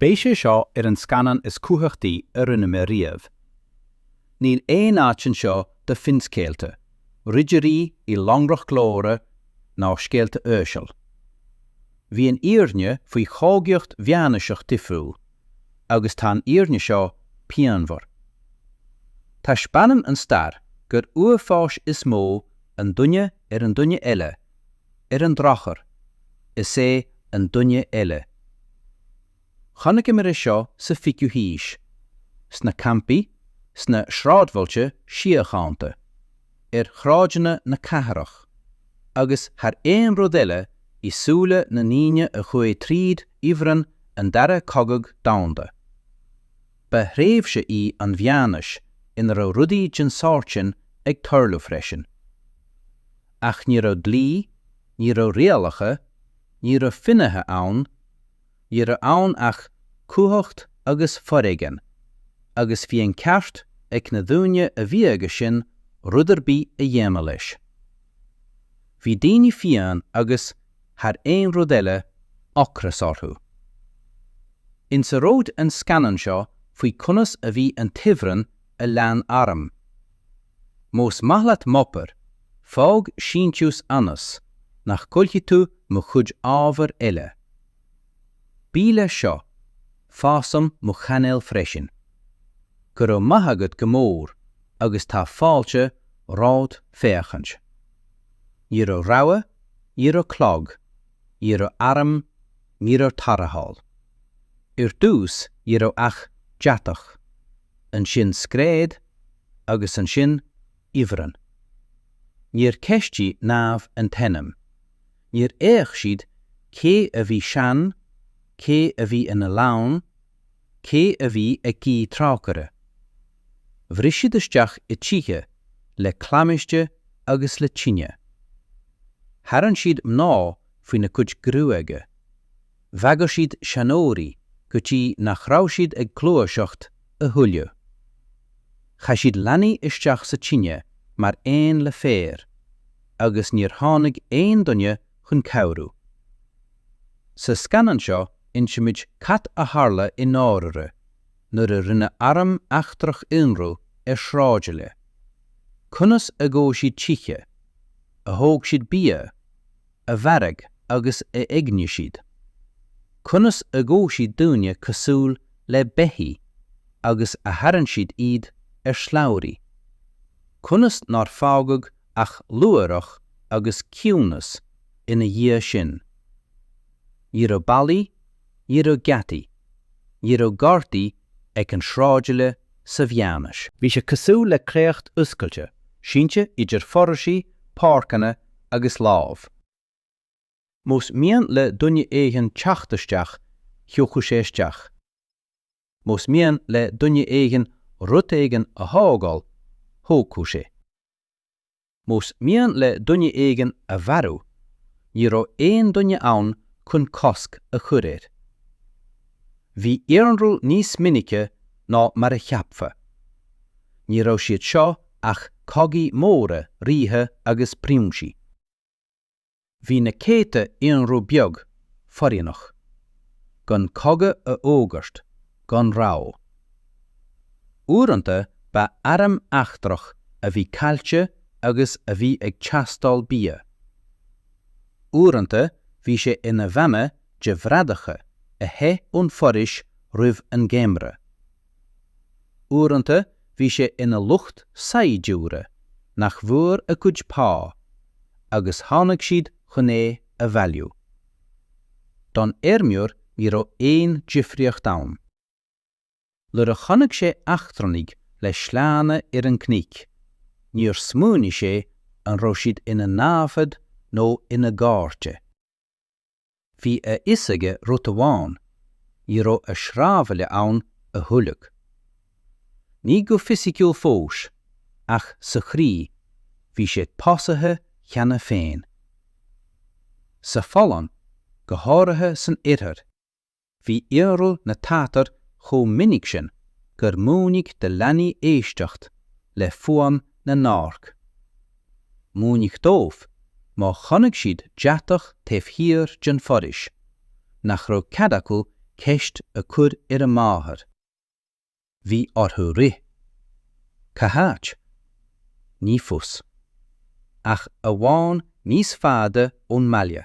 Beidh sé seo ar an scannán is cumhachtaí a rinne mé riamh. Níl aon áit anseo do finscéalta, ridirí i lonrach glóire ná scéalta uaisle. Bhí an fhírinne faoi chogaíocht mheánaoiseach difriúil, agus tá an fhírinne seo pianmhar. Taispeánann an stair gur uafáis is mó an duine ar an duine eile, Ar an drochuair, is é an duine eile. Chonaiceamar é seo sa 20ú haois, sna campaí, sna sráidbhailte síochánta, ar shráideanna na cathrach, agus thar aon rud eile i súile na ndaoine a chuaigh tríd ifreann an Dara Cogadh Domhanda. Ba thréimhse í an mheánaois ina raibh rudaí den sórt sin ag tarlú freisin. Ach ní raibh dlí, ní raibh rialacha, ní raibh finnéithe ann, ní raibh ann ach cumhacht agus foréigean, agus bhí an ceart ag na daoine a bhí aige sin rud ar bith a dhéanamh leis. Bhí daoine fiáin agus, thar aon rud eile, ocras orthu. Inseoidh an scannán seo faoi conas a bhí an t-ifreann a lean arm. Más maith leat m'obair, fág síntiús ionas nach gcaillfidh tú mo chuid ábhar eile. Buí leis seo, fásaim mo chainéal freisin. Go raibh maith agat go mór agus tá fáilte romhat féachaint. Ní raibh rabhadh, ní raibh clog, ní raibh arm, ní raibh tarrtháil. Ar dtús ní raibh ach deatach. ansin scread agus ansin ifreann. Níor cheistigh námha an t-ainm. Níor fhéach siad cé a bhí sean, cé a bhí ina leanbh, cé a bhí ag guí trócaire. Bhris siad isteach i dtithe le claimhte agus le tine. Tharraing siad mná faoina gcuid gruaige. Bhagair siad seanóirí go dtí nach raibh siad ag gluaiseacht a thuilleadh. Chaith siad leanaí isteach sa tine mar aon le féar agus níor tháinig aon duine chun cabhrú. Sa scannán seo insimid cad a tharla i ndáirire nuair a rinne arm eachtrach ionradh ar shráidbhaile. Conas a dhóigh siad tithe, a thóg siad bia, a mharaigh agus a éignigh siad, conas a ghabh siad daoine cosúil le beithígh agus a tharraing siad iad ar shlabhraí, conas nár fágadh ach luaithreach agus ciúnas ina dhiaidh sin. Ní raibh ballaí ní raibh geataí, ní raibh gardaí ag an sráidbhaile sa mheánaois. Bhí sé cosúil le créacht oscailte, sínte idir foraoisí, páirceanna agus láib. Más mian le duine éigin teacht isteach, thiocfadh sé isteach. Más mian le duine éigin rud éigin a thógáil, thógfadh sé. más mian le duine éigin a mharú, ní raibh aon duine ann chun cosc a chur air. Bhí ionradh níos minice ná mar a cheapfá. Ní raibh siad seo ach cogaí móra ríthe agus prionsaí. Bhí na céadta ionradh beag foréigneach gan cogadh a fhógairt gan rabhadh. Uaireanta ba arm eachtrach a bhí caillte agus a bhí ag teastáil bia. Uaireanta bhí sé ina bhanna de bhradaithe a theith ón bhforaois roimh an ngeimhreadh. Uaireanta bhí sé ina lucht saighdiúra nach bhfuair a gcuid pá agus tháinig siad chun é a bhailiú. Don fheirmeoir ní raibh aon difríocht ann. Nuair a chonaic sé eachtranaigh le sleánna ar an gcnoic, níor smaoinigh sé an raibh siad ina naimhde nó ina gcairde. Bhí a fhios aige rud amháin, ní raibh a sráidbhaile ann a thuilleadh. Ní go fisiciúil fós, ach sa chroí, bhí sé básaithe cheana féin. Sa Pholainn, go háirithe san Oirthear, Bhí ionradh na Tatar chomh minic sin gur múineadh do leanaí éisteacht le fuaim na n-adharc. Múineadh dóibh, má chonaic siad deatach taobh thiar den fhoraois, nach raibh cead acu ceist a chur ar a máthair. Bhí orthu rith. Cá háit? Ní fios. Ach amháin níos faide ón mbaile.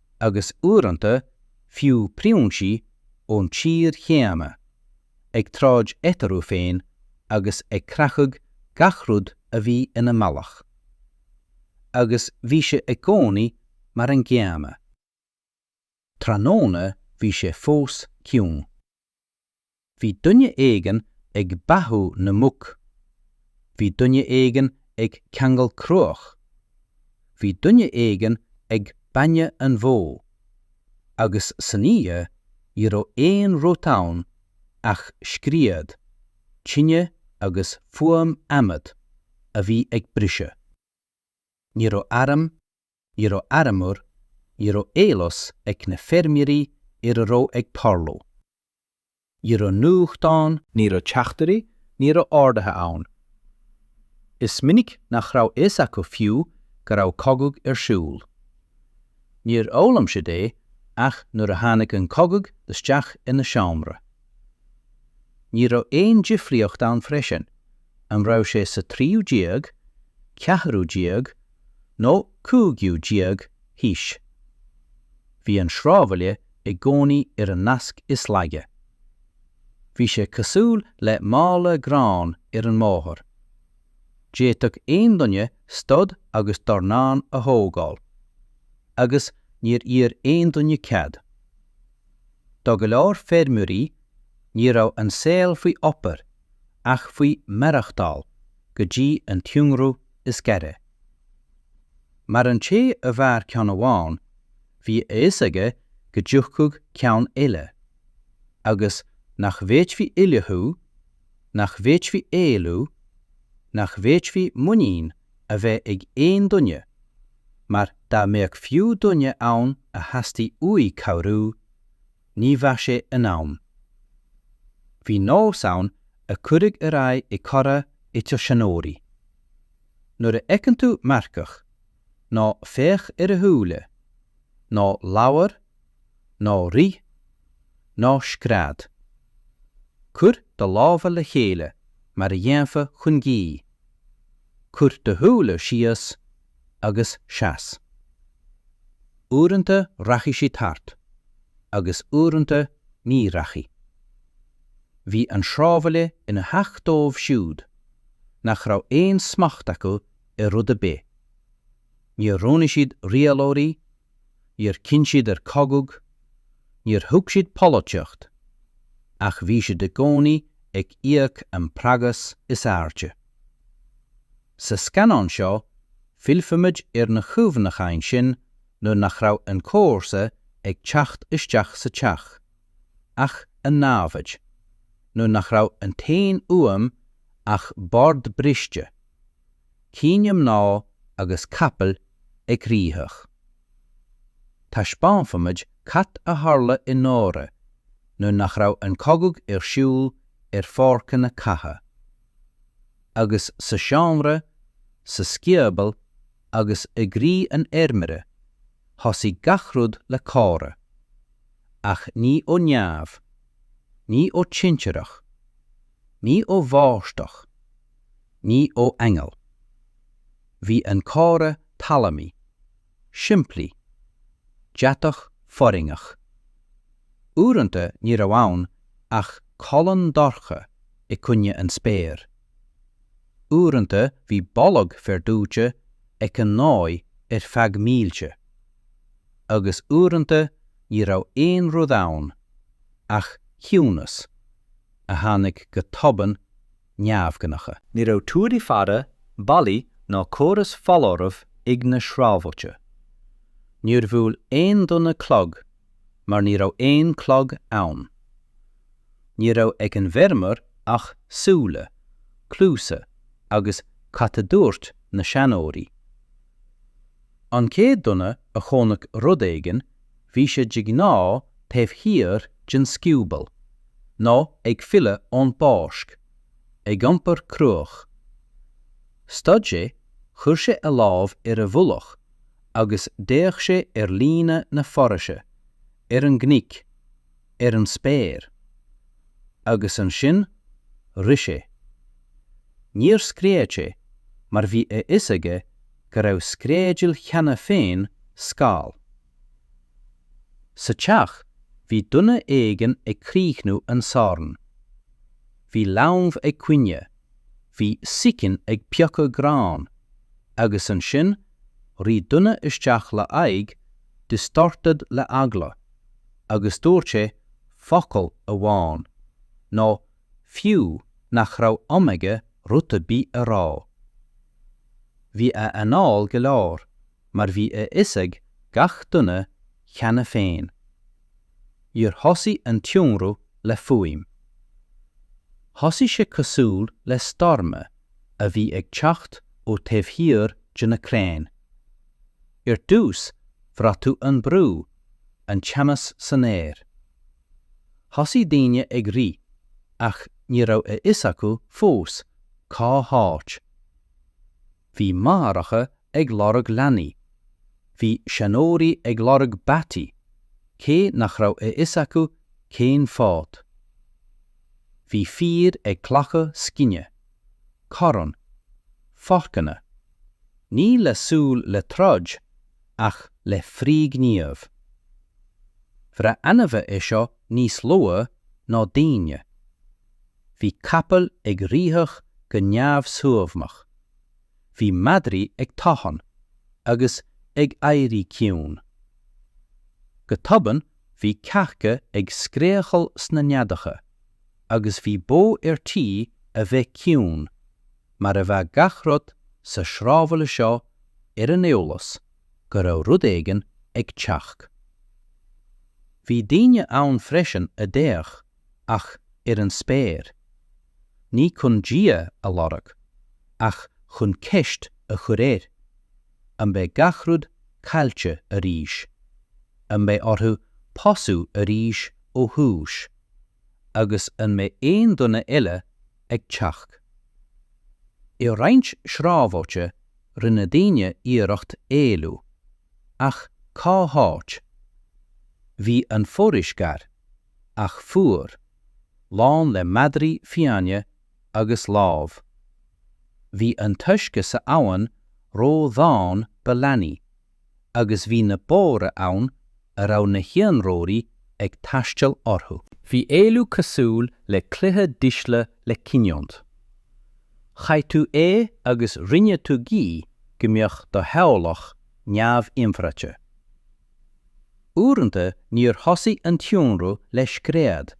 agus uaireanta fiú prionsaí ón tír chéanna, ag troid eatarthu féin agus ag creachadh gach rud a bhí ina mbealach. Agus bhí sé i gcónaí mar an gcéanna. Tráthnóna bhí sé fós ciúin. Bhí duine éigin ag beathú na muc. Bhí duine éigin ag ceangal cruach. Bhí duine éigin ag bainne an bhó. Agus san oíche ní raibh aon rud ann ach scread, tine agus fuaim adhmad a bhí ag briseadh. Ní raibh arm. ní raibh armúr, ní raibh eolas ag na feirmeoirí ar a raibh ag tarlú. Ní raibh nuachtáin. Ní raibh teachtairí, ní raibh ordaithe ann. Is minic nach raibh fhios acu fiú go raibh cogadh ar siúl. Níor fhoghlaim siad é ach nuair a tháinig an cogadh isteach ina seomra. Ní raibh aon difríocht ann freisin, an raibh sé sa 13ú, 14ú, nó 15ú haois. Bhí an sráidbhaile i gcónaí ar an nasc is laige. Bhí sé cosúil le mála gráin ar an mbóthar. D'fhéadfadh aon duine stad agus dornán a thógáil. Agus níor iarr aon duine cead. Do go leor feirmeoirí, ní raibh an saol faoi obair ach faoi mhaireachtáil go dtí an t-ionradh is gaire. Mar an té a mhair ceann amháin, bhí a fhios aige go dtiocfadh ceann eile, agus nach bhféadfaí ullmhú, nach bhféadfaí éalú, nach bhféadfaí muinín a bheith ag aon duine, mar dá mbeadh fiú duine ann a theastaigh uaidh cabhrú, ní bheadh sé in am. Bhí nós ann a cuireadh ar aghaidh i gcomhrá idir seanóirí. Nuair a fheiceann tú marcach, ná féach ar a shúile, ná labhair, ná rith, ná scread. Cuir do lámha le chéile mar a dhéanfá chun guí. Cuir do shúile síos agus seas. Uaireanta rachaidh sí thart, agus uaireanta ní rachaidh. Bhí an sráidbhaile ina theach dóibh siúd nach raibh aon smacht acu ar rud ar bith. Níor roghnaigh siad rialóirí níor chinn siad ar chogadh, níor thuig siad polaitíocht, ach bhí siad i gcónaí ag íoc an praghas is airde. Sa scannán seo, fillfimid ar na chuimhneacháin sin nuair nach raibh an comharsa ag teacht isteach sa teach, ach an namhaid, nuair nach raibh an t-aon fhuaim ach bord briste, Caoineadh mná agus capaill ag rith. Taispeánfaimid cad a tharla i ndáiríre nuair nach raibh an cogadh ar siúl ar pháirceanna catha. Agus sa seomra, sa sciobal agus i gcroí an fheirmeora, thosaigh gach rud le comhrá. Ach ní ó neamh. Ní ó thintreach. Ní ó bháisteach. Ní ó aingeal. Bhí an comhartha talmhaí, simplí, deatach foirgnimh. Uaireanta ní raibh ann ach colún dorcha i gcoinne an spéir. Uaireanta bhí boladh féir dóite ag an ngaoth ar feadh mílte. Agus uaireanta ní raibh aon rud ann ach ciúnas a tháinig go tobann neamhghnách. Ní raibh túir faire, ballaí ná córas foláirimh ag na sráidbhailte. Níor bhuail aon duine clog mar ní raibh aon chlog ann. Ní raibh ag an bhfeirmeoir ach súile, cluasa agus cad a dúirt na seanóirí. An chéad duine a chonaic rud éigin, bhí sé de ghnáth taobh thiar den scioból, nó ag filleadh ón bpáirc, ag iompar cruach. Stad sé, chuir sé a lámh ar a mhullach agus d'fhéach sé ar líne na foraoise, ar an gcnoic, ar an spéir. Agus ansin rith sé. Níor scread sé mar bhí a fhios aige go raibh screadaíl cheana féin mall. Sa teach bhí duine éigin ag críochnú an sorn. Bhí leanbh ag caoineadh, bhí sicín ag piocadh gráin, agus ansin rith duine isteach le haghaidh distorted le eagla, agus dúirt sé focal amháin, nó fiú nach raibh am aige rud ar bith a rá. Bhí a anál go leor, mar bhí a fhios ag gach duine cheana féin. Níor thosaigh an t-ionradh le fuaim. Thosaigh sé cosúil le stoirm a bhí ag teacht ó taobh thiar de na crainn. Ar dtús, bhraith tú an brú, an teannas san aer. Thosaigh daoine ag rith, ach ní raibh a fhios acu fós cá háit. Bhí máithreacha ag lorg leanaí, bhí seanóirí ag lorg bataí, cé nach raibh a fhios acu cén fáth. Bhí fir ag glacadh scine, corrán, forcanna. Ní le súil le troid ach le frithghníomh. Bhraith ainmhithe é seo níos luaithe ná daoine. Bhí capaill ag seitreach go neamhshuaimhneach, bhí madraí ag tafann agus ag éirí ciúin. Go tobann bhí cearca ag scréachaíl sna neadacha agus bhí bó ar tí a bheith ciúin. mar a bheadh gach rud sa sráidbhaile seo ar an eolas go raibh rud éigin ag teacht. Bhí daoine ann freisin a d'fhéach ach ar an spéir, ní chun Dia a lorg, ach chun ceist a chur air, an mbeidh gach rud caillte arís, an mbeidh orthu tosú arís ó thús, agus an mbeidh aon duine eile ag teacht. I roinnt sráidbhailte rinne daoine iarracht éalú, ach cá háit? Bhí an foraois gar, ach fuar, lán le madraí fiáine agus láib. Bhí an t-uisce san abhainn ródhomhain do leanaí agus bhí na bóithre ann a raibh na hionróirí ag taisteal orthu. Bhí éalú cosúil le cluiche dísle le cinniúint. Chaith tú é agus rinne tú guí go mbeadh do theaghlach neamh-inchreidte. Uaireanta níor thosaigh an t-ionradh le scread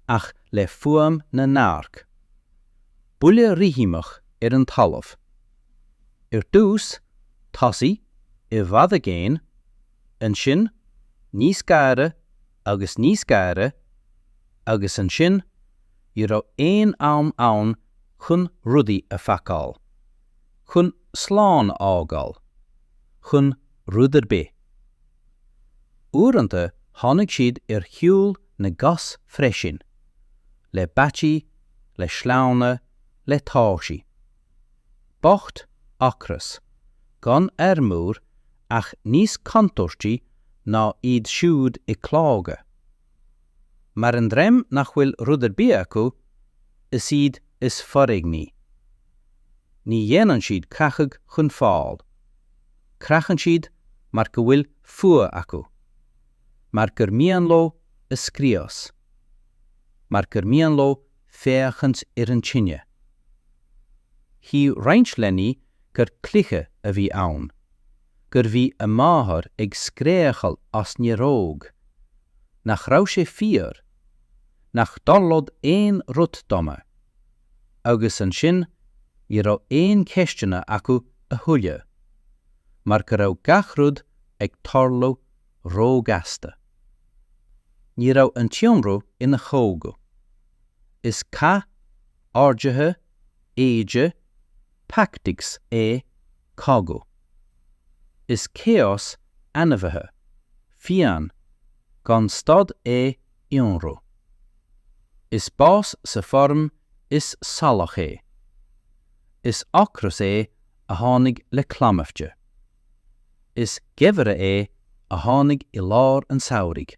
ach le fuaim na n-adharc. buille rithimeach ar an talamh. Ar dtús, tosaigh i bhfad i gcéin, ansin níos gaire agus níos gaire, agus ansin ní raibh aon am ann chun rudaí a phacáil, chun slán a fhágáil, chun rud ar bith. Uaireanta tháinig siad ar shiúl na gcos freisin. le bataí, le sleánna, le tóirsí. Bocht, ocras, gan armúr ach níos contúirtí ná iad siúd i clogaid. Mar an dream nach bhfuil rud ar bith acu, is iad is foréigní. Ní dhéanann siad creachadh chun fáil. Creachann siad mar go bhfuil fuath acu. mar gur mian leo a scrios, mar gur mian leo féachaint ar an tine. Shíl roinnt leanaí gur cluiche a bhí ann, gur bhí a máthair ag scréachaíl as néaróg, nach raibh sé fíor, nach dtarlódh aon rud dona, agus ansin ní raibh aon cheisteanna acu a thuilleadh, mar go raibh gach rud ag tarlú róghasta. Ní raibh an t-ionradh ina chogadh. Is cath orduithe, éide, tactics é cogadh. Is chaos ainmhithe, fiáin, gan stad é ionradh. Is bás sa foirm is salach é. Is ocras é a tháinig le claimhte. Is geimhreadh é a tháinig i lár an tsamhraidh.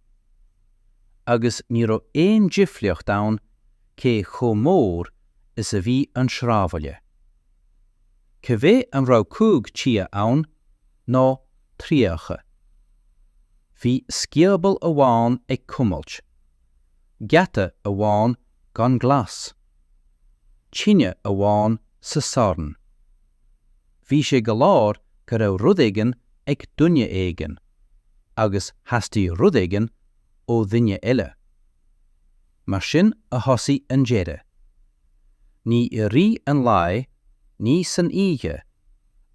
Agus ní raibh aon difríocht ann cé chomh mór is a bhí an sráidbhaile. Cibé an raibh cúig tithe ann nó tríocha. Bhí scioból amháin ag cumailt. Geata amháin gan glas. Tine amháin sa sorn. Bhí sé go leor go raibh rud éigin ag duine éigin, agus theastaigh rud éigin ó dhuine eile. Mar sin a thosaigh an deireadh. Ní i rith an lae, ní san oíche,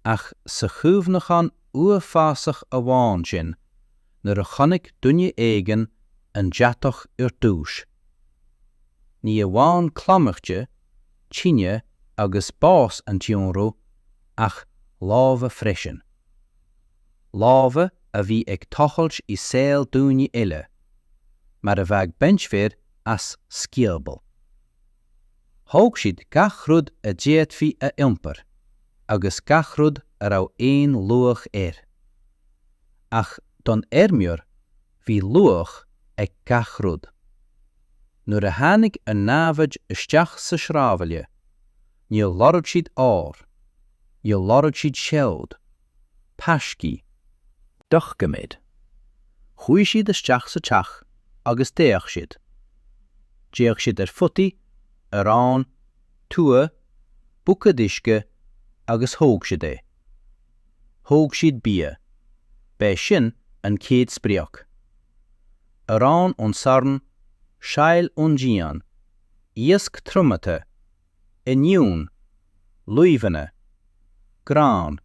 ach sa chuimhneachán uafásach amháin sin nuair a chonaic duine éigin an deatach ar dtúis. Ní amháin claimhte, tine agus bás an t-ionradh ach lámha freisin. Lámha a bhí ag tochailt i saol daoine eile, mar a bheadh beincfear as scioból. Thóg siad gach rud a d'fhéadfaí a iompar agus gach rud a raibh aon luach air. Ach don fheirmeoir Bhí luach ag gach rud. Nuair a tháinig an námhaid isteach sa sráidbhaile, níor lorg siad ór, níor lorg siad seod, taiscí, doiciméid, chuaigh siad isteach sa teach agus d'fhéach siad, d'fhéach siad ar photaí, arán, tua, buicéad uisce agus thóg siad é. Thóg siad bia. B'é sin an chéad sprioc. Arán ón sorn, saill ón díon, iasc triomaithe, oinniúin, luibheanna, grán,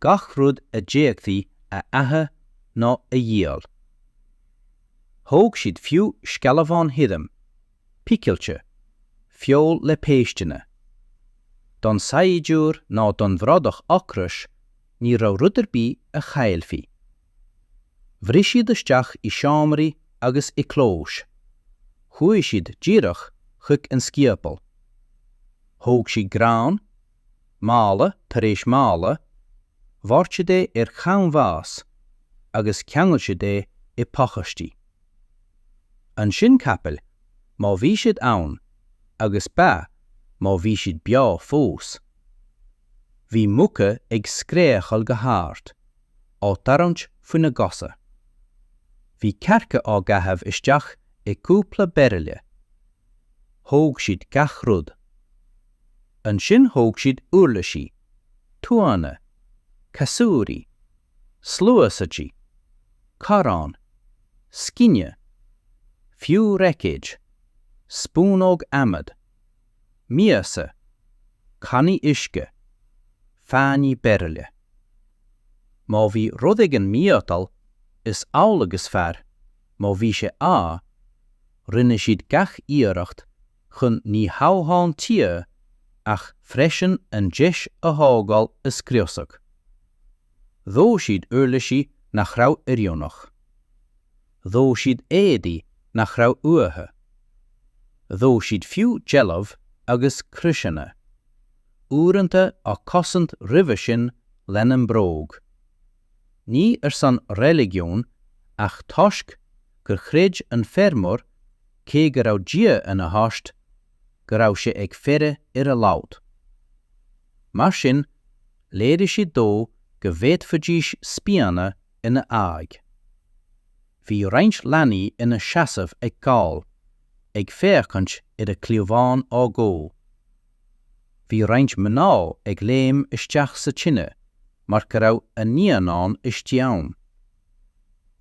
gach rud a d'fhéadfaí a ithe nó a dhíol. Thóg siad fiú scamháin thirim. picilte, feoil le péisteanna. Don saighdiúir ná don bhradach ocrach ní raibh rud ar bith a chaillfí. Bhris siad isteach i seomraí agus i gclóis. Chuaigh siad díreach chuig an sciobal. Thóg siad grán, mála tar éis mála, dhoirt siad é ar chanbhás agus cheangail siad é i bpacáistí. Ansin capaill, má bhí siad ann, agus ba, má bhí siad beo fós. Bhí muca ag scréachail go hard, á dtarraingt faoina gcosa. Bhí cearca á gcaitheamh isteach i gcúpla bairille. Thóg siad gach rud. Ansin thóg siad uirlisí, tuanna, casúir, sluaistí, corráin, scine, fiú buicéid, spúnóga adhmaid, miasa, cannaí uisce, fáinní bairille. Má bhí rud éigin miotail, is amhlaidh is fearr, má bhí an t-ádh, rinne siad gach iarracht, chun ní hamháin tithe ach freisin an deis a thógáil a scriosadh. Dhóigh siad uirlisí nach raibh oiriúnach. Dhóigh siad éadaí nach raibh uathu. Dhóigh siad fiú deilbh agus croiseanna, uaireanta á gcosaint roimhe sin lena mbróg. ní ar son reiligiún ach toisc gur chreid an feirmeoir, cé go raibh Dia ina thost, go raibh sé ag faire ar a lot. Mar sin, léirigh siad dó go bhféadfaidís spíonadh ina aghaidh. Bhí roinnt leanaí ina seasamh ag gol, ag féachaint ar a gcliabhán á dhó. Bhí roinnt mná ag léim isteach sa tine mar go raibh a naíonán istigh ann.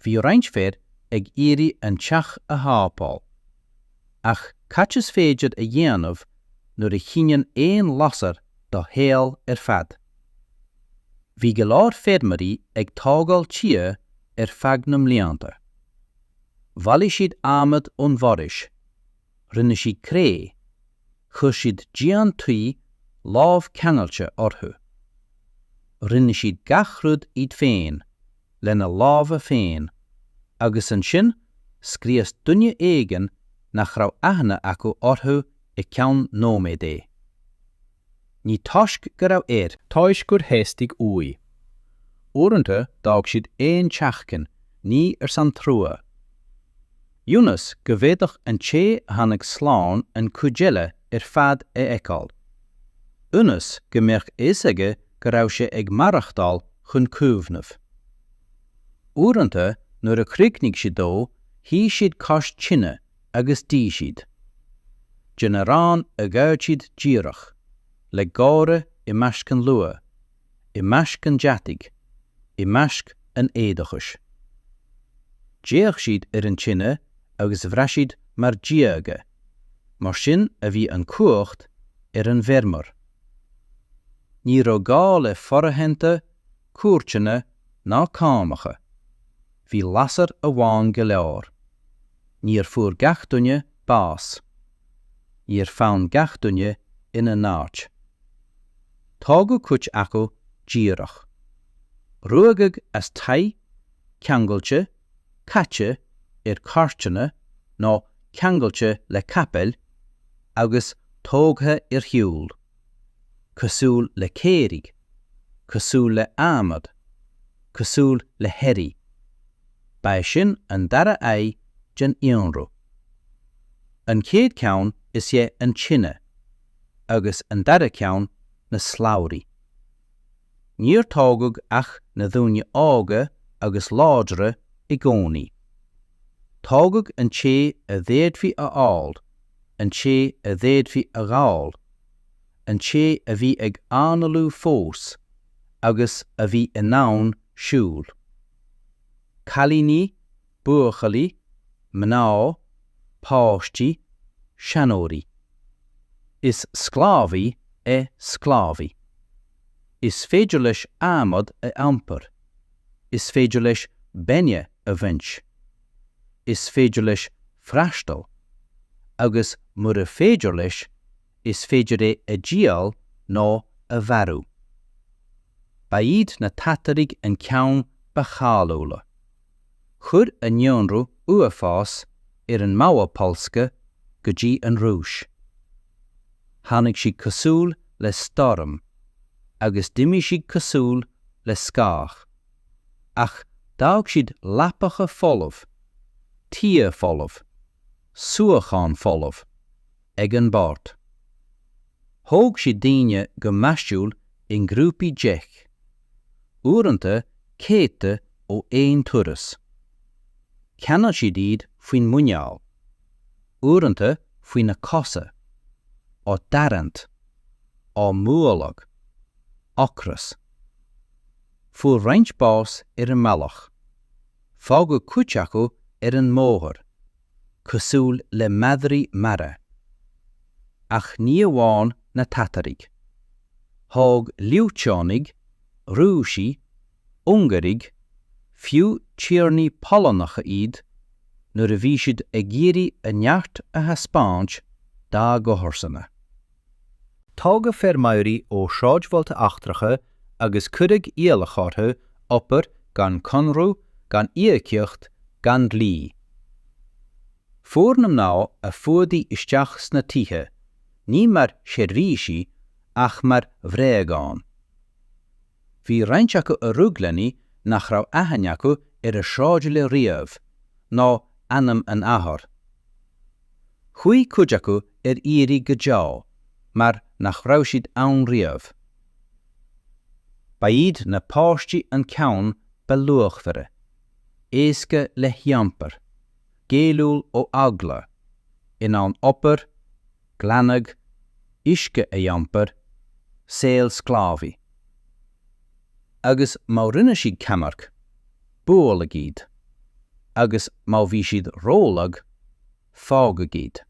Bhí roinnt fir ag iarraidh an teach a shábháil. Ach cad is féidir a dhéanamh nuair a chinneann aon lasair do shaol ar fad? Bhí go leor feirmeoirí ag tógáil tithe ar feadh na mblianta. Bhailigh siad adhmad ón bhforaois rinne siad cré, chuir siad díon tuí lámhcheangailte orthu. Rinne siad gach rud iad féin, lena lámha féin, agus ansin scrios duine éigin nach raibh aithne acu orthu i gceann nóiméad é. Ní toisc go raibh air. Toisc gur theastaigh uaidh. Uaireanta d'fhág siad aon teachín, ní ar son trua. Ionas go bhféadfadh an té a tháinig slán an cuid eile ar fad a fheiceáil. Ionas go mbeadh fhios aige go raibh sé ag maireachtáil chun cuimhneamh. Uaireanta nuair a chríochnaigh siad dó, shuigh siad cois tine agus d'ith siad den arán a ghoid siad díreach le gáire i measc an luatha, i measc an deataigh, i measc an éadóchais. D'fhéach siad ar an tine agus bhraith siad mar dhiaga, mar sin a bhí an chumhacht ar an bhfeirmeoir. Ní raibh gá le foraitheanta cúirteanna ná cánacha, bhí lasair amháin go leor. Níor fuair gach duine bás. Níor fan gach duine ina n-áit. Tógadh cuid acu díreach. Ruaigeadh as tithe, ceangailte, caite ar chairteanna nó ceangailte le capaill agus tógtha ar shiúl. cosúil le caoirigh, cosúil le adhmad, cosúil le hearraí. Ba é sin an dara aghaidh den ionradh. An chéad cheann is ea an tine, agus an dara ceann na slabhraí. Níor tógadh ach na daoine óga agus láidre i gcónaí. Tógadh an té a d'fhéadfaí a fháil, an té a d'fhéadfaí a ghabháil, an té a bhí ag análú fós agus a bhí in ann siúl. Cailíní, buachaillí, mná, páistí, seanóirí. Is sclábhaí é sclábhaí. Is féidir leis adhmad a iompar. Is féidir leis bainne a bhaint. is féidir leis freastal, agus mura féidir leis, is féidir é a dhíol nó a mharú. Ba iad na Tataraigh an ceann ba cháiliúla. Chuir a n-ionradh uafás ón Małopolska go dtí an Rúis. Tháinig siad cosúil le stoirm, agus d'imigh siad cosúil le scáth. ach d'fhág siad leapacha folamh, tithe folamh, suíochán folamh, ag an mbord. Thóg siad daoine go measúil i ngrúpaí deich, uaireanta céadta ó aon turas. Cheangail siad iad faoin muineál, uaireanta faoi na cosa, á dtarraingt, á mbualadh. Ocras. Fuair roinnt bás ar an mbealach. Fágadh cuid acu ar an mbóthar, cosúil le madraí marbha. Ach ní amháin na Tataraigh. Thóg Liúteánaigh, Rúisigh, Ungáirigh, fiú tiarnaí Polannacha iad, nuair a bhí siad ag iarraidh a neart a thaispeáint dá gcomharsana. Tógadh feirmeoirí ó shráidbhailte eachtracha agus cuireadh iallach orthu obair gan conradh, gan íocaíocht, gan dlí. Chuaigh na mná a fuadaíodh isteach sna tithe, ní mar sheirbhísigh ach mar bhréagáin. Bhí roinnt acu a rug leanaí nach raibh aithne acu ar a sráidbhaile riamh, ná ainm a n-athar. Chuaigh cuid acu ar iarraidh go deo, mar nach raibh siad ann riamh. Ba iad na páistí an ceann ba luachmhaire, éasca le hiompar, géilliúil ó eagla, in ann obair, glanadh, uisce a iompar, saol sclábhaí. Agus má rinne siad ceannairc, bualadh iad, agus má bhí siad rólag, fágadh iad.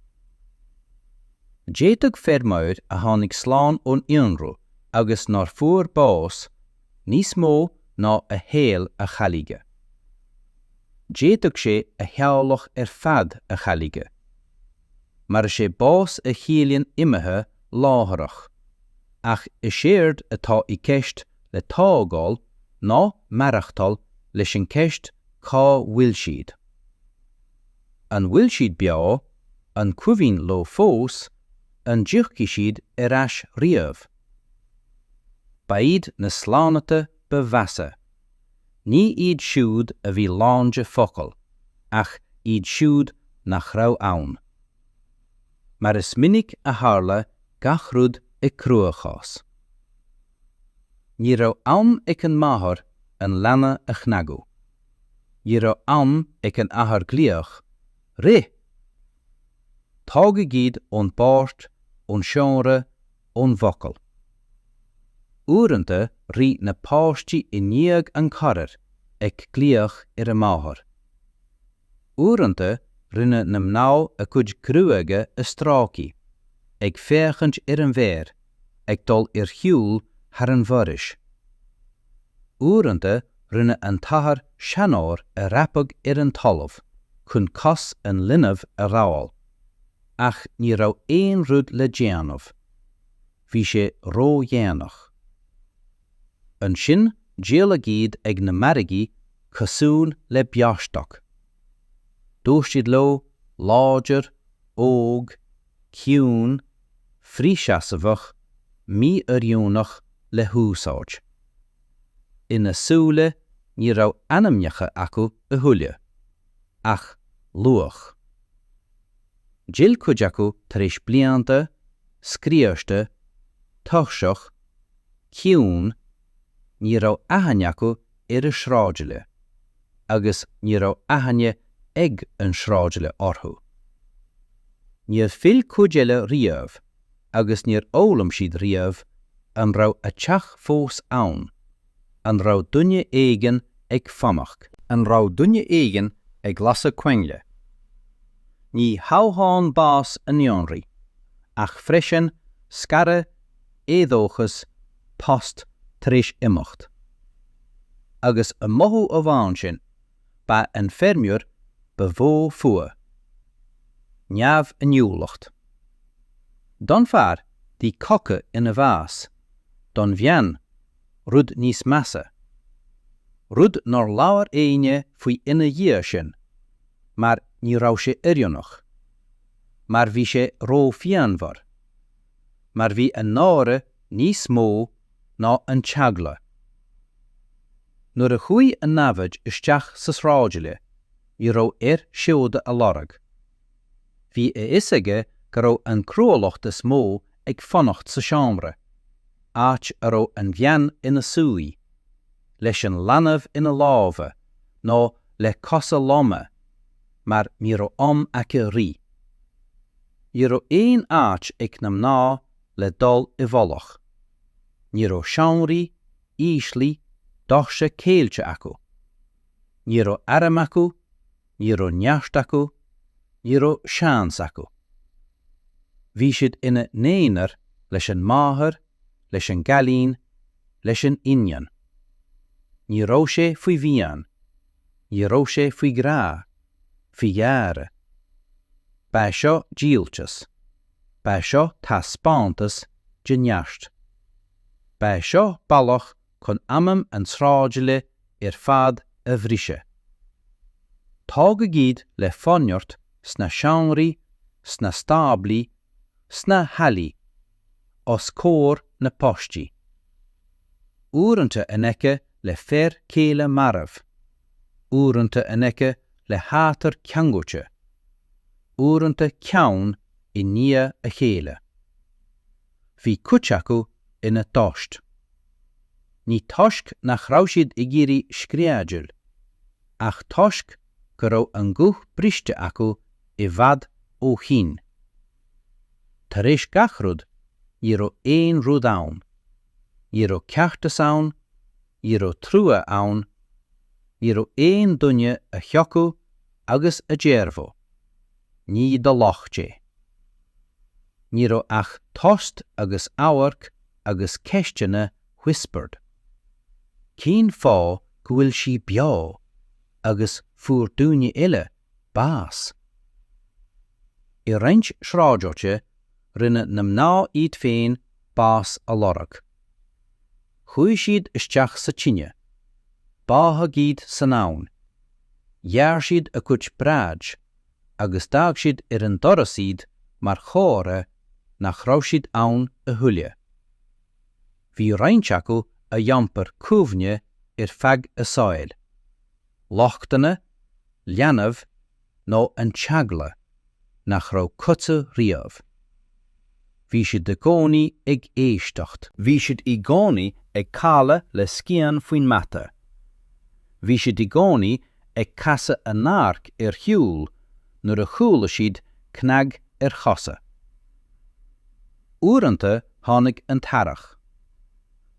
D'fhéadfadh feirmeoir a tháinig slán ón ionradh agus nár fuair bás níos mó ná a shaol a chailleadh. D'fhéadfadh sé a theaghlach ar fad a chailleadh. mar is é bás a chiallaíonn imithe láithreach, ach is éard atá i gceist le tógáil ná maireachtáil leis an gceist cá bhfuil siad. An bhfuil siad beo, an cuimhin leo fós, an dtiocfaidh siad ar ais riamh? Ba iad na slánta ba mheasa. Ní iad siúd a bhí lán de focail, ach iad siúd nach raibh ann. Mar is minic a tharla gach rud i gcruachás. Ní raibh am ag an máthair an leanbh a chnagadh. Ní raibh am ag an athair glaoch, Rith! Tógadh iad ón bpáirc, ón seomra, ón bhfocal. Uaireanta rith na páistí i ndiaidh an charair ag glaoch ar a máthair. Uaireanta rinne na mná a gcuid gruaige a stróiceadh, ag féachaint ar an bhfear ag dul ar shiúl thar an bhforaois. Uaireanta rinne an t-athair seanóir ag dreapadh ar an talamh chun cos an linbh a ghabháil. ach ní raibh aon rud le déanamh. Bhí sé ródhéanach. Ansin díoladh iad ag na margaí cosúil le beostoc. Dúirt siad leo, láidir, óg, ciúin, frithsheasmhach, mí-oiriúnach le húsáid. Ina súile ní raibh ainmneacha acu a thuilleadh. ach luach. D'fhill cuid acu tar éis blianta, scriosta, tuirseach, ciúin, ní raibh aithne acu ar a sráidbhaile agus ní raibh aithne ag an sráidbhaile orthu. Níor fhill cuid eile riamh agus níor fhoghlaim siad riamh an raibh a dteach fós ann, An raibh duine éigin ag fanacht? An raibh duine éigin ag lasadh coinnle? Ní hamháin bás a naíonraí, ach freisin scaradh, éadóchas, post tar éis imeacht. Agus an mothú amháin sin, ba an feirmeoir ba mhó fuath. Neamhinniúlacht. Don fear, bhí coca ina bhás, don bhean, rud níos measa, rud nár labhair éinne faoi ina dhiaidh sin, mar ní raibh sé oiriúnach, mar bhí sé róphianmhar, mar bhí an náire níos mó ná an t-eagla. Nuair a chuaigh an namhaid isteach sa sráidbhaile, ní raibh air seoda a lorg. Bhí a fhios aige go raibh an chruálacht is mó ag fanacht sa seomra, áit a raibh an bhean ina suí, leis an leanbh ina lámha nó le cosa loma, mar ní raibh am aici rith. Ní raibh aon áit ag na mná le dul i bhfolach. Ní raibh seomraí, íslí, doirse ceilte acu. Ní raibh airm acu, Ní raibh neart acu, ní raibh seans acu. Bhí siad ina n-aonar leis an máthair, leis an gcailín, leis an iníon. Ní raibh sé faoi mhian, ní raibh sé faoi ghrá, faoi ghearradh. Ba é seo díoltas, ba é seo taispeántas de neart. Ba é seo bealach chun anam an tsráidbhaile ar fad a bhriseadh. Tógadh iad le forneart sna seomraí, sna stáblaí, sna hallaí, os comhair na bpáistí. Uaireanta in aice le fear céile marbh, uaireanta in aice le hathair ceangailte, uaireanta ceann i ndiaidh a chéile. bhí cuid acu ina dtost. Ní toisc nach raibh siad ag iarraidh screadaíl, ach toisc go raibh a nguth briste acu i bhfad ó shin. Tar éis gach rud, ní raibh aon rud ann. Ní raibh ceartas ann, ní raibh trua ann, ní raibh aon duine a thiocfadh agus a déarfadh, ní do locht é. Ní raibh ach tost agus amharc agus ceisteanna whispered. Cén fáth go bhfuil sí beo agus fuair daoine eile bás? I roinnt sráidbhailte rinne na mná iad féin bás a lorg. Chuaigh siad isteach sa tine, báthadh iad san abhainn, ghearr siad a gcuid bráid, agus d'fhág siad ar an doras iad mar chomhartha nach raibh siad ann a thuilleadh. Bhí roinnt acu a d'iompair cuimhne ar feadh a saoil, lochtanna, leanbh nó an t-eagla nach raibh codladh riamh. Bhí siad i gcónaí ag éisteacht. Bhí siad i gcónaí ag codladh le scian faoin mata. Bhí siad i gcónaí ag casadh a n-amharc ar shiúl nuair a chuala siad cnag ar chosa. Uaireanta tháinig an t-earrach.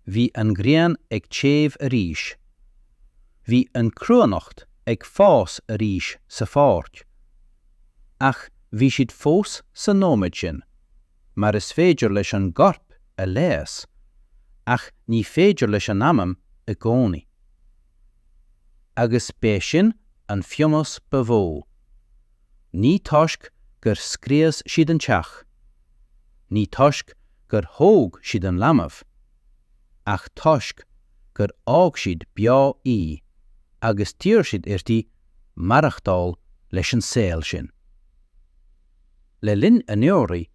Bhí an ghrian ag téamh arís. Bhí an chruithneacht ag fás arís sa pháirc. ach bhí siad fós sa nóiméad sin, mar is féidir leis an gcorp a leigheas, ach ní féidir leis an anam i gcónaí. Agus b'é sin an pionós ba mhó. Ní toisc gur scrios siad an teach, ní toisc gur thóg siad an leanbh, ach toisc gur fhág siad beo í agus d'iarr siad uirthi maireachtáil leis an saol sin. Le linn ionraí,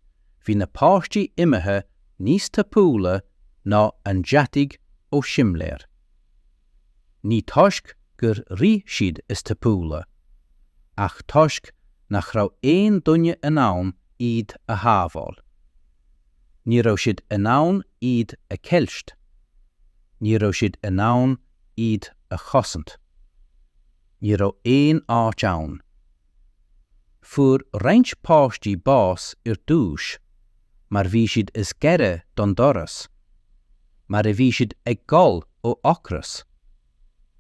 bhí na páistí imithe níos tapúla ná an deataigh ó simléir. Ní toisc gur rith siad is tapúla, ach toisc nach raibh aon duine in ann iad a shábháil. Ní raibh siad in ann iad a cheilt, ní raibh siad in ann iad a chosaint. Ní raibh aon áit ann. Fuair roinnt páistí bás ar dtús mar bhí siad is gaire don doras, mar a bhí siad ag gol ó ocras,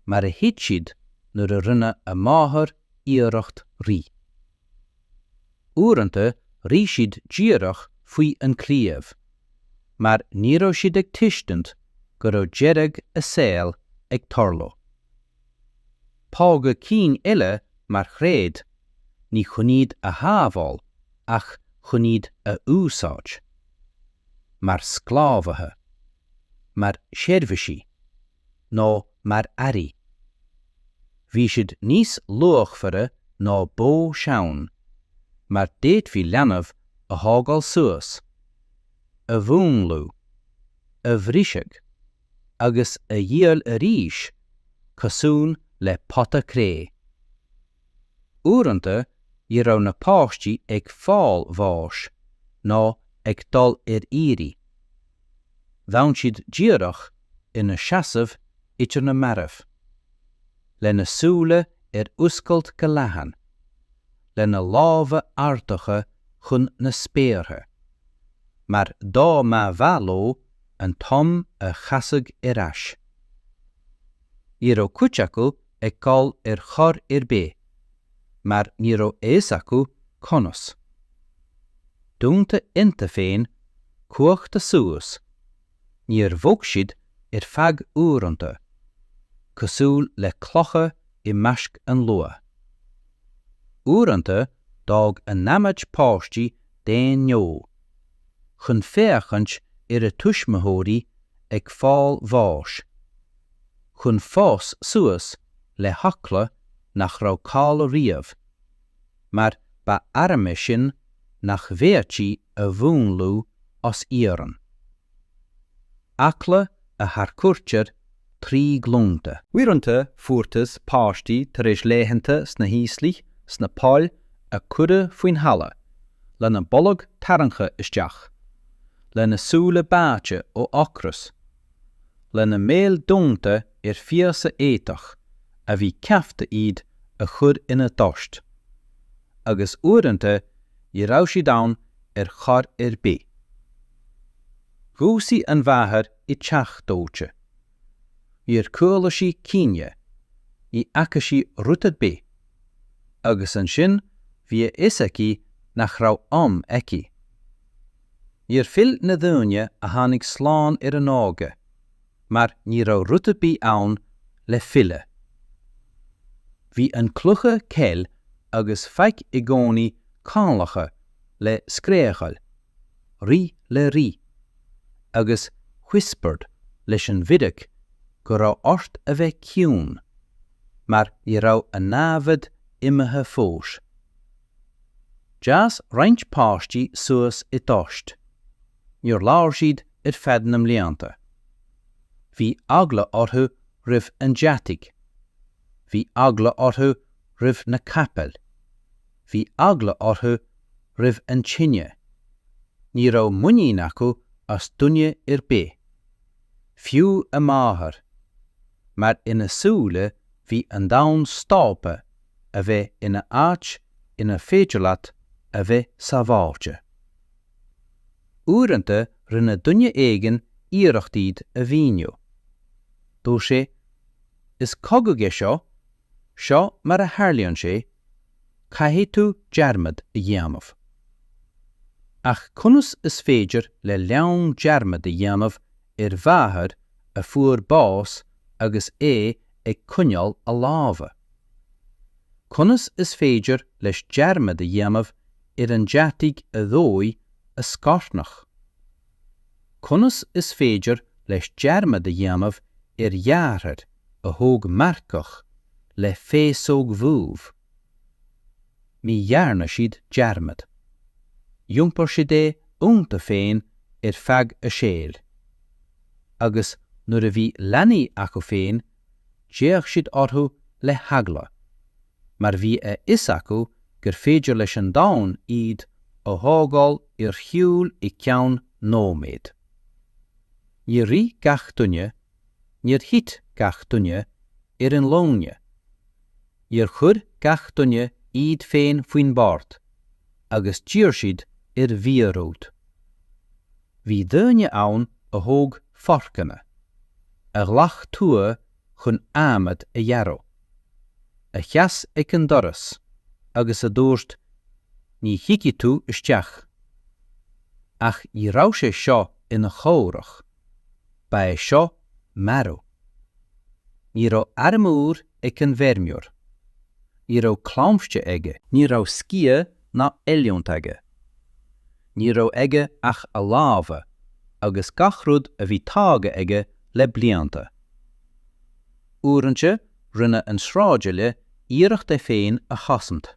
mar a thit siad nuair a rinne a máthair iarracht rith. uaireanta rith siad díreach faoi an claíomh, mar ní raibh siad ag tuiscint go raibh deireadh a saol ag tarlú. Fágadh cinn eile mar chreach, ní chun iad a shábháil ach chun iad a úsáid. Mar sclábhaithe. Mar sheirbhísigh. nó mar earraí. Bhí siad níos luachmhaire ná bó sean, mar d'fhéadfaí leanbh a thógáil suas, a mhúnlú, a bhriseadh, agus a dhíol arís cosúil le pota cré. Uaireanta ní raibh na páistí ag fáil bháis ná ag dul ar iarraidh. D'fhan siad díreach ina seasamh idir na mairbh, lena súile ar oscailt go leathan, lena lámha ardaithe chun na spéartha, mar dá mba mhaith leo an t-am a chasadh ar ais. Ní raibh cuid acu ag gol ar chor ar bith mar ní raibh a fhios acu conas. Dúnta ionnta féin cuachta suas, níor bhog siad ar feadh uaireanta, cosúil le clocha i measc an luaith. Uaireanta d'fhág an namhaid páistí d'aon ghnó, chun féachaint ar a tuismitheoirí ag fáil bháis, chun fás suas le heagla nach raibh caillte riamh, mar ba arm é sin nach bhféadfaí a mhúnlú as iarann. Eagla a tharchuirtear trí ghlúnta. Uaireanta fuarthas páistí tar éis laethanta sna híoslaigh sna poill a cuireadh faoin talamh, lena bolg tarraingthe isteach, lena súile báite ó ocras, lena mbéil dúnta ar phíosa éadach a bhí ceaptha iad a chur ina dtost, agus uaireanta ní raibh siad ann ar chor ar bith. Dhúisigh an mháthair i dteach dóite. Níor chuala sí caoineadh, ní fhaca sí rud ar bith, agus ansin bhí a fhios aici nach raibh am aici. Níor phill na daoine a tháinig slán ar an óige mar ní raibh rud ar bith ann le filleadh. Bhí an cluiche ceil agus feic i gcónaí ceangailte le scréachaíl, rith le rith, agus whispered leis an bhfíric go raibh ort a bheith ciúin mar ní raibh an namhaid imithe fós. D'fhás roinnt páistí suas i dtost. Níor labhair siad ar feadh na mblianta. Bhí eagla orthu roimh an deataigh. Bhí eagla orthu roimh na capaill. Bhí eagla orthu roimh an tine. Ní raibh muinín acu as duine ar bith. Fiú a máthair. Mar ina súile bhí an domhan stoptha a bheith ina áit inar féidir leat a bheith sábháilte. Uaireanta rinne duine éigin iarracht iad a mhíniú. Dúirt sé, Is cogadh é seo, seo mar a tharlaíonn sé, caithfidh tú dearmad a dhéanamh. Ach conas is féidir le leanbh dearmad a dhéanamh ar mháthair a fuair bás agus é ag coinneáil a lámha. Conas is féidir leis dearmad a dhéanamh ar an deataigh a dhóigh a scornach? Conas is féidir leis dearmad a dhéanamh ar dheartháir a thóg marcach le féasóg dhubh? Ní dhearna siad dearmad. D'iompar siad é ionta féin ar feadh a saoil. Agus nuair a bhí leanaí acu féin, d'fhéach siad orthu le heagla, mar bhí a fhios acu gur féidir leis an domhan iad a thógáil ar shiúil i gceann nóiméid. Níor rith gach duine Níor thit gach duine ar a nglúine. Níor chuir gach duine iad féin faoin mbord agus d'iarr siad ar mhíorúilt. Bhí daoine ann a thóg forcanna, a ghlac tua chun adhmad a ghearradh, a sheas ag an doras agus a dúirt Ní thiocfaidh tú isteach. Ach ní raibh sé seo ina chomhrac. Ba é seo marú. Ní raibh armúr ag an bhfeirmeoir. Ní raibh claimhte aige. Ní raibh sciath ná oiliúint aige. Ní raibh aige ach a lámha agus gach rud a bhí tógtha aige le blianta. Uaireanta rinne an sráidbhaile iarracht é féin a chosaint.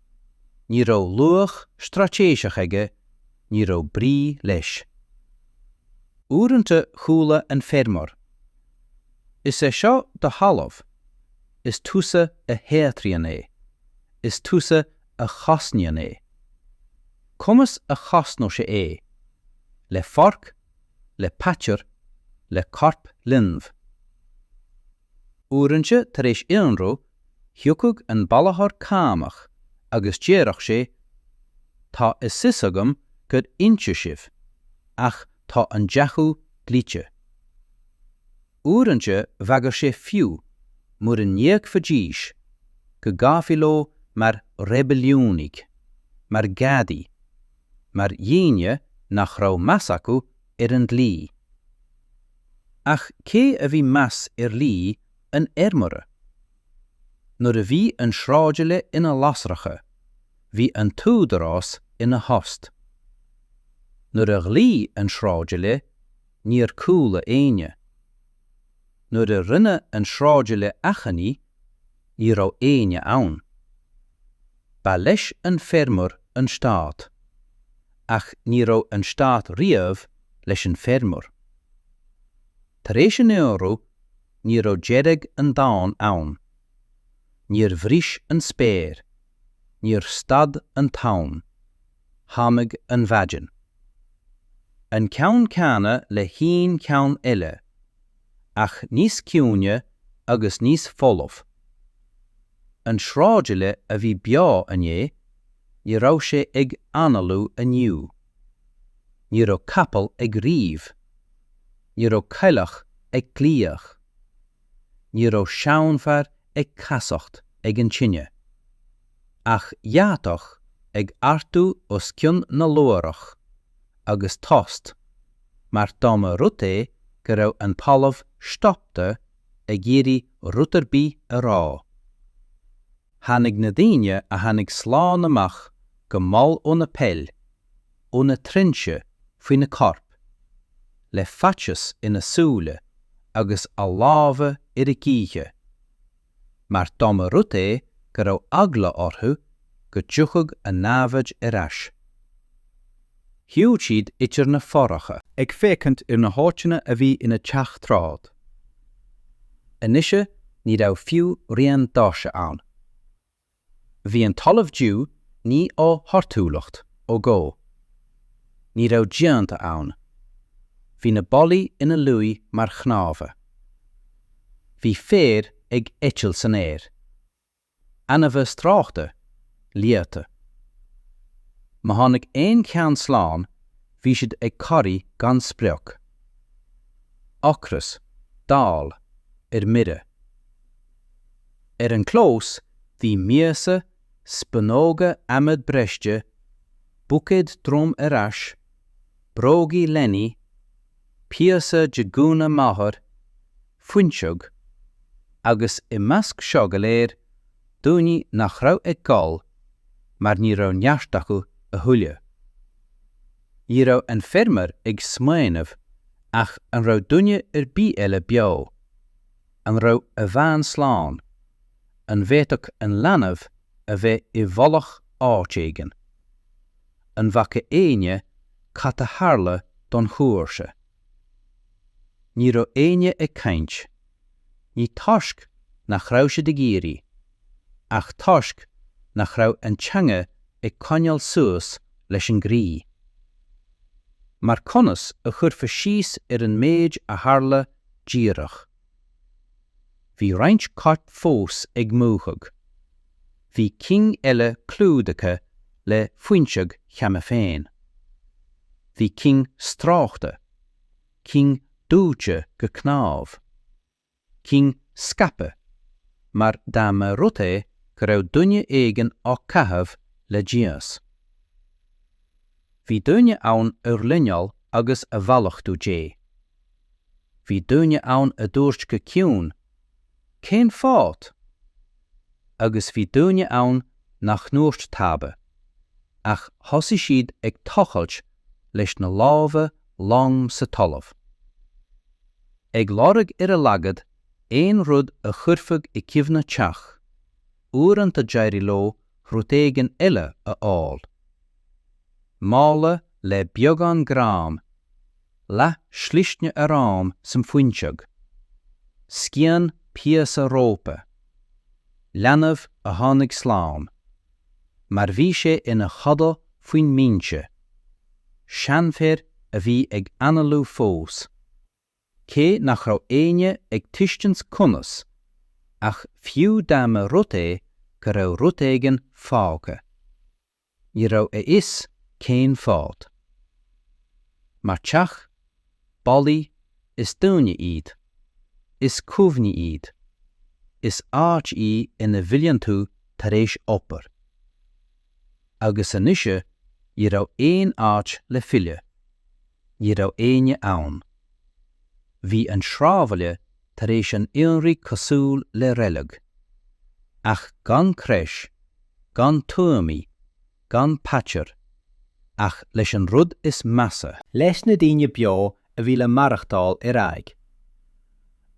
Ní raibh luach straitéiseach aige, ní raibh brí leis. Uaireanta chuala an feirmeoir, Is é seo do thalamh, is tusa a shaothraíonn é, is tusa a chosnaíonn é. Conas a chosnódh sé é? Le forc, le paidir, le corp linbh. Uaireanta tar éis ionradh thiocfadh an bailitheoir cánach agus déarfadh sé, Tá a fhios agam gur ionsaíodh sibh, ach tá an deachú dlite. Uaireanta bhagair sé fiú mura n-íocfaidís go gcaithfí leo mar reibiliúnaigh, mar gadaí, mar dhaoine nach raibh meas acu ar an dlí. Ach cé a bhí meas ar dhlí an fheirmeora? Nuair a bhí an sráidbhaile ina lasracha, bhí an t-údarás ina thost. Nuair a ghlaoigh an sráidbhaile, níor chuala éinne. Nuair a rinne an sráidbhaile achainí, ní raibh éinne ann. Ba leis an feirmeoir an Stát. Ach ní raibh an Stát riamh leis an feirmeoir. Tar éis an ionradh, ní raibh deireadh an domhain ann. Níor bhris an spéir. Níor stad an t-am. Tháinig an mhaidin. An ceann céanna le haon cheann eile. ach níos ciúine agus níos folamh. An sráidbhaile a bhí beo inné, ní raibh sé ag análú inniu. Ní raibh capall ag ríomh. Ní raibh coileach ag glaoch. Ní raibh seanfhear ag casacht ag an tine. ach deatach ag ardú os cionn na luaithreach, agus tost, mar dá mba rud é go raibh an talamh stopta ag iarraidh rud ar bith a rá. Tháinig na daoine a tháinig slán amach go mall ó na poill, ó na trinsí faoi na coirp, le faitíos ina súile agus a lámha ar a gcroíthe, mar dá mba rud é go raibh eagla orthu go dtiocfadh a namhaid ar ais. Shiúil siad idir na fothracha. ag féachaint ar na háiteanna a bhí ina dteach tráth. Anois ní raibh fiú rian d'áirse ann. Bhí an talamh dubh. Ní ó thorthúlacht, ó dhó. Ní raibh díonta ann. Bhí na ballaí ina luí mar chnámha. Bhí féar ag eitilt san aer. Ainmhithe stróicthe, liata. Má tháinig aon cheann slán, bhí siad ag corraí gan sprioc. Ocras, dall, ar mire. Ar an gclós bhí miasa, spúnóga adhmaid briste, buicéad droim ar ais, brógaí leanaí, píosa de ghúna máthar, fuinseog, agus i measc seo go léir, daoine nach raibh ag gol mar ní raibh neart acu a thuilleadh. Ní raibh an feirmeoir ag smaoineamh ach an raibh duine ar bith eile beo. An raibh a bhean slán? An bhféadfadh an leanbh a bheith i bhfolach áit éigin? An bhfaca éinne cad a tharla don chomharsa? Ní raibh éinne ag caint. Ní toisc nach raibh siad ag iarraidh, ach toisc nach raibh an teanga ag coinneáil suas leis an gcroí. Mar conas a chuirfeá síos ar an méid a tharla díreach. Bhí roinnt coirp fós ag múchadh. Bhí cinn eile clúdaithe le fuinseog cheana féin. Bhí cinn stróicthe, cinn dóite go cnámh, cinn scaipthe mar dá mba rud é go raibh duine éigin á caitheamh le dímheas. Bhí daoine ann a ghlinneáil agus a mhallachtú Dé. Bhí daoine ann a dúirt go ciúin, 'Cén fáth? Agus bhí daoine ann nach ndúirt tada, ach thosaigh siad ag tochailt leis na lámha lom sa talamh, ag lorg ar a laghad aon rud a chuirfeadh i gcuimhne teach. uaireanta d'éirigh leo rud éigin eile a fháil. Mála le beagán grán, leath slisne aráin san fuinseog, scian píosa rópa, leanbh a tháinig slán mar bhí sé ina chodladh faoin mbinse, seanfhear a bhí ag análú fós, cé nach raibh éinne ag tuiscint conas, ach fiú dá mba rud é go raibh rud éigin fágtha, ní raibh a fhios cén fáth. Mar teach, ballaí, is daoine iad. Is cuimhní iad. Is áit í ina bhfilleann tú tar éis obair. agus anois ní raibh aon áit le filleadh. Ní raibh éinne ann. Bhí an sráidbhaile tar éis an ionraidh cosúil le reilg, ach gan crois, gan tuamaí, gan paidir, ach leis an rud is measa, leis na daoine beo a bhí le maireachtáil ar aghaidh,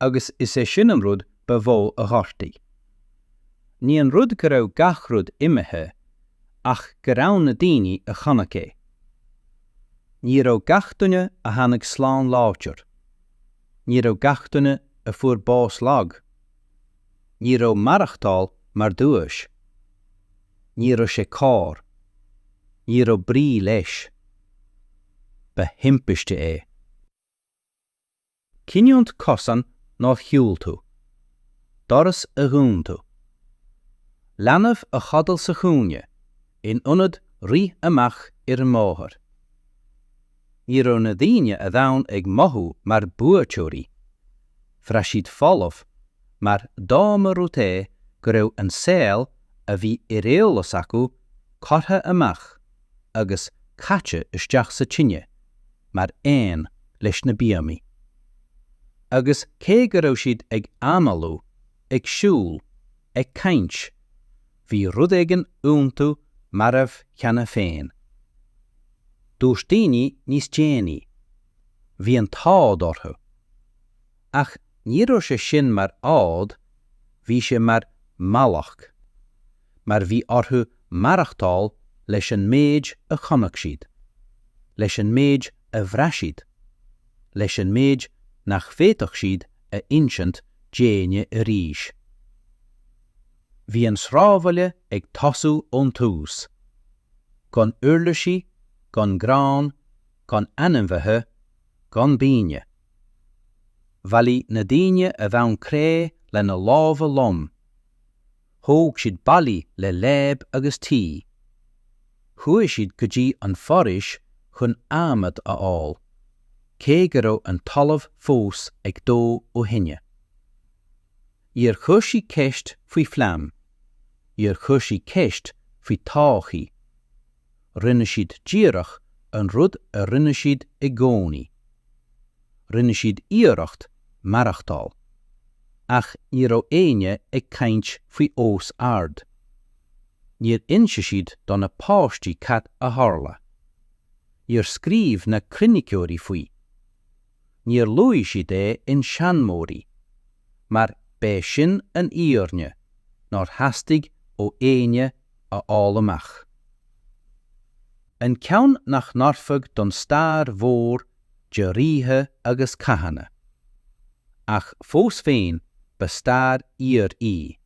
agus is é sin an rud ba mhó a ghortaigh. Ní an rud go raibh gach rud imithe, ach go raibh ann na daoine a chonaic é. Ní raibh gach duine a tháinig slán láidir. Ní raibh gach duine a fuair bás lag. Ní raibh maireachtáil mar duais. Ní raibh sé cóir. Ní raibh brí leis. Ba thimpiste é. Cinniúint. Cosán nár shiúil tú. Doras a dhún tú. Leanbh a chodail sa chúinne in ionad rith amach ar an mbóthar? Ní raibh na daoine a d'fhan ag mothú mar buaiteoirí, bhraith siad folamh mar dá mba rud é go raibh an saol a bhí ar eolas acu curtha amach agus caite isteach sa tine mar aon leis na bíomaí. Agus cé go raibh siad ag análú, ag siúl, ag caint, bhí rud éigin iontu marbh cheana féin. Dúirt daoine níos déanaí, 'Bhí an t-ádh orthu. Ach ní raibh sé sin mar ádh, bhí sé mar mhallacht. mar bhí orthu maireachtáil leis an méid a chonaic siad, leis an méid a bhraith siad, leis an méid nach bhféadfadh siad a insint d'éinne arís. Bhí an sráidbhaile ag tosú ón tús. Gan uirlisí, gan grán, gan ainmhithe, gan bíomaí. Bhailigh na daoine a bhain cré lena lámha lom. Thóg siad ballaí le láib agus tuí. Chuaigh siad go dtí an foraois chun adhmad a fháil, cé go raibh an talamh fós ag dó ó thine. Níor chuir siad ceist faoi phlean. Níor chuir siad ceist faoi thodhchaí. rinne siad díreach an rud a rinne siad i gcónaí. Rinne siad iarracht maireachtáil, ach ní raibh éinne ag caint faoi os ard. Níor inis siad do na páistí cad a tharla. Níor scríobh na croiniceoirí faoi. níor luaigh siad é i seanmóirí, mar b'é sin an fhírinne nár theastaigh ó éinne a fháil amach. An ceann nach n-oirfeadh don stair mhór de ríthe agus cathanna. Ach fós féin ba stair fhíor í.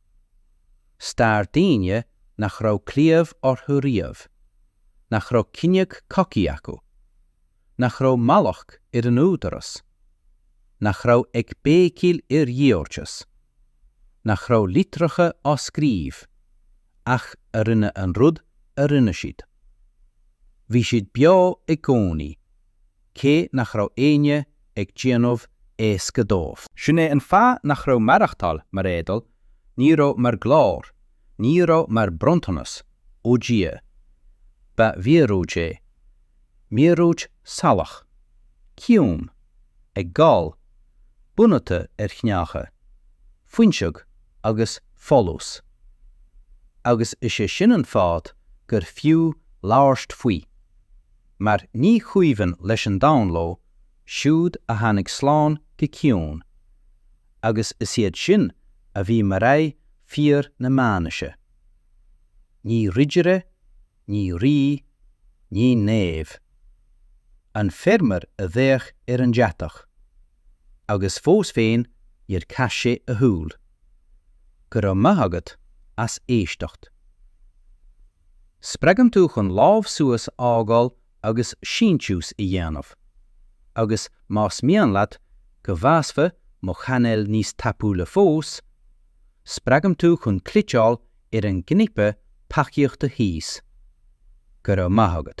Stair daoine nach raibh claíomh orthu riamh, nach raibh cinneadh cogaidh acu, nach raibh mallacht ar an údarás, nach raibh ag béicíl ar cheartas, nach raibh litreacha á scríobh, ach a rinne an rud a rinne siad. Bhí siad beo i gcónaí, cé nach raibh éinne ag déanamh éasca dóibh. Sin é an fáth nach raibh maireachtáil mar éadail, ní raibh mar ghlóir, ní raibh mar bronntanas ó Dhia. Ba mhíorúilt é. Míorúilt salach, ciúin, ag gol, bunaithe ar chneácha, fuinseog agus folús. Agus is é sin an fáth gur fiú labhairt faoi, mar ní chuimhin leis an domhan leo siúd a tháinig slán go ciúin, agus is iad sin a bhí mar aghaidh fíor na meánaoise. Ní ridire ní rí, ní naomh. An feirmeoir a d'fhéach ar an deatach. Agus fós féin níor chas sé a shúil. Go raibh maith agat as éisteacht. Spreagaim tú chun lámh suas a fhágáil agus síntiús a dhéanamh. Agus más mian leat go bhfásfaidh mo chainéal níos tapúla fós, spreagaim tú chun cliceáil ar an gcnaipe tacaíochta thíos. Go raibh maith agat.